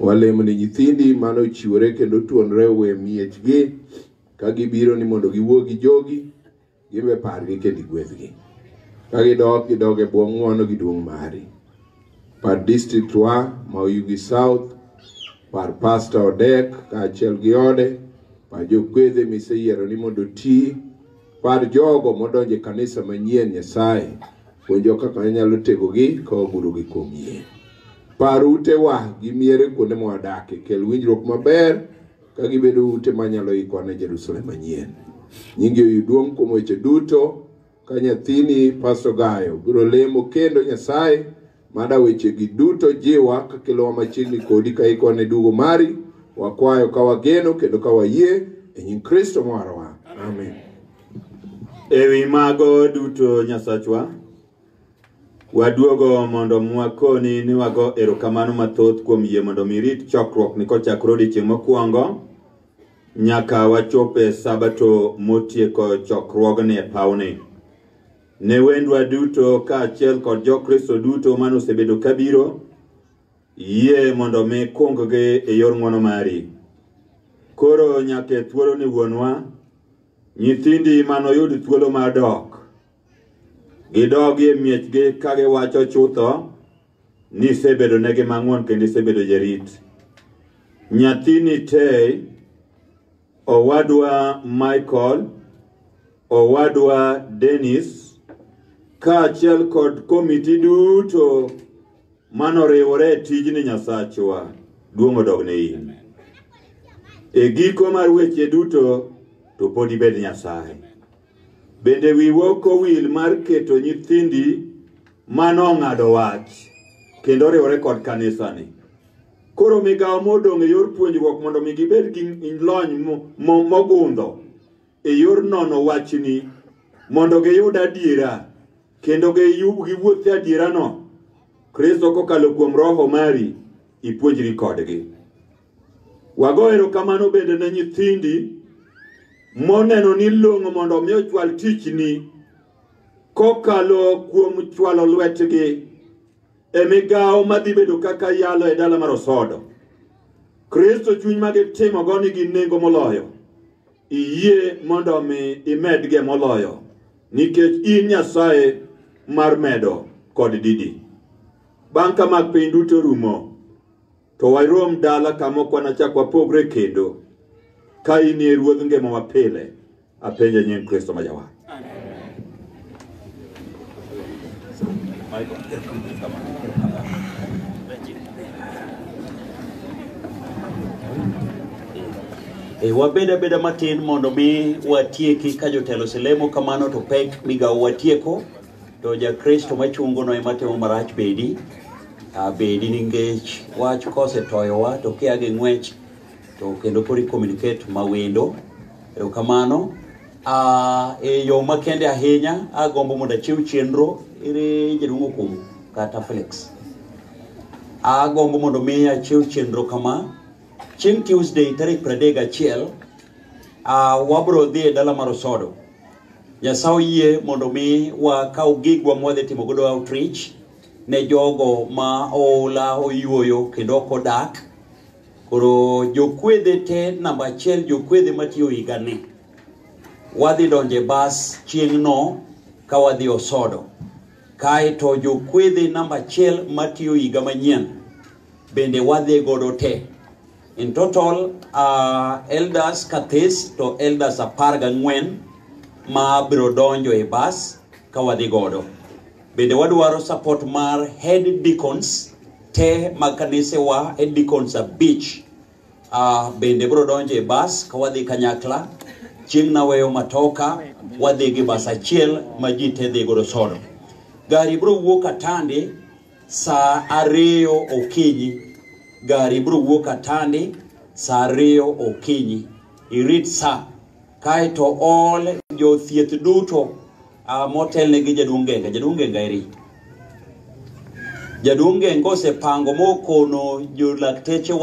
walemo ni nyithindi mane ochiwore kendo tuonre owe miechgi Ka gibiro ni mondo giwuo gi jogi, giwe pargi kendo igwedhgi. Ka gidok, gidog e bwo ng'wono gi duong' mari. Par district wa ma Oyugi South, par Pastor Odek kaachiel gi ode, par jokwedhe miseyiero ni mondo oti, par jogo modonjo e kanisa manyien Nyasaye, puonjo kaka inyalo tegogi ka wagurogi kuom yie. Par utewa gi miere kuonde mwadakie, kel winjruok maber ka gibedo ute ma nyalo ikwa ne Jerusalem manyien. Nyingi oyud duong' kuom weche duto ka nyathini Pastor Gayo biro lemo kendo Nyasaye mada wechegi duto jiwa ka kelowa machiegni kodi ka ikwa ne dugo mari wakwayo ka wageno kendo ka wayie e nying Kristo marwa. Amen. Ewi mago duto Nyasachwa, Waduogo mondo mwakoni ni wago erokamano mathoth kuom yie mondo mi rit chokruok ni kochakore odiechieng' mokwongo nyaka wachop e sabato motieko chokruogni e pawni. Ne wendwa duto kaachiel kod jokristo duto mane osebedo kabiro, yie mondo mi kunggi e yor ng'wono mari. Koro nyaka e thuoloni wuonwa, nyithindi manoyud thuolo mar dok Gidogi e miechgi ka giwacho chutho ni isebedo negi mang'won kendo isebedo jarit. Nyathini Tei, owadwa Michael, owadwa Dennis, kaachiel kod komiti duto manoriwore e tijni Nyasachwa, duong' odog ne in. E giko mar weche duto to pod ibed Nyasaye. Bende wiwa ok owil mar keto nyithindi ma nong'ado wach kendo oriwore kod kanisani. Koro migawo modong' e yor puonjruok mondo mi gibed gi lony mogundho e yor nono wachni mondo giyud adiera kendo giwuoth e adierano. Kristo kokalo kuom Roho mari ipuonjri kodgi. Wago erokamano bende ne nyithindi moneno ni long'o mondo omi ochwal tichni kokalo kuom chwalo lwetgi e migawo madhi bedo kaka yalo e dala mar Osodo. Kristo chuny ma gitimogo nigi nengo moloyo. Iyie mondo omi imedge moloyo nikech in Nyasaye mar medo kod didi. Bang' ka mag piny duto rumo, to warom dala kama ok wanachak wapogre kendo ka in e ruodh ngimawa pile apenja nying kristo ma jawar E, wabed abeda matin mondo mi watieki ka jotelo selemo kamano to pek migawo watieko to jakristo machungono ema timo marach bedi ah, bedi ningech wach kosetoyowa to kia gi ng'wech to kendo kori communicate mawendo erokamano ah, e yo makende ahinya agombo mondo achiw chenro ere jaduong' okumu kata felix agombo mondo mi achiw chenro kama chieng' tuesday tarik 31 ah, wabro dhi e dala mar osodo Nyasaye oyie mondo mi wakaw gigwa mwadhi timo godo outreach ne jogo ma oula oyuoyo kendo ok odak. Koro jokwedhe te namba achiel jokwedhe matiyo higani. Wadhi donje bas chieng'no ka wadhi osodo. Kaeto jokwedhe namba achiel matiyo higa manyien bende wadhi godo te. In total, uh, elders kathis to elders apar gang'wen ma biro donjo e bas ka wadhi godo. Bende wadwaro support mar head deacons te mag kanisewa, head deacons abich uh, bende biro donjo e bas ka wadhi kanyakla. Chieng' naweyo matoka, wadhi gi bas achiel ma ji te dhi godo sodo. Gari biro wuok Katande saa ariyo okinyi gari biro wuok atandi saa ariyo okinyi irit saa kae to ol jothieth duto ah, motelne gi jaduong' genga jaduong' genga eri jaduong' genga osepango mokono jolakteche wa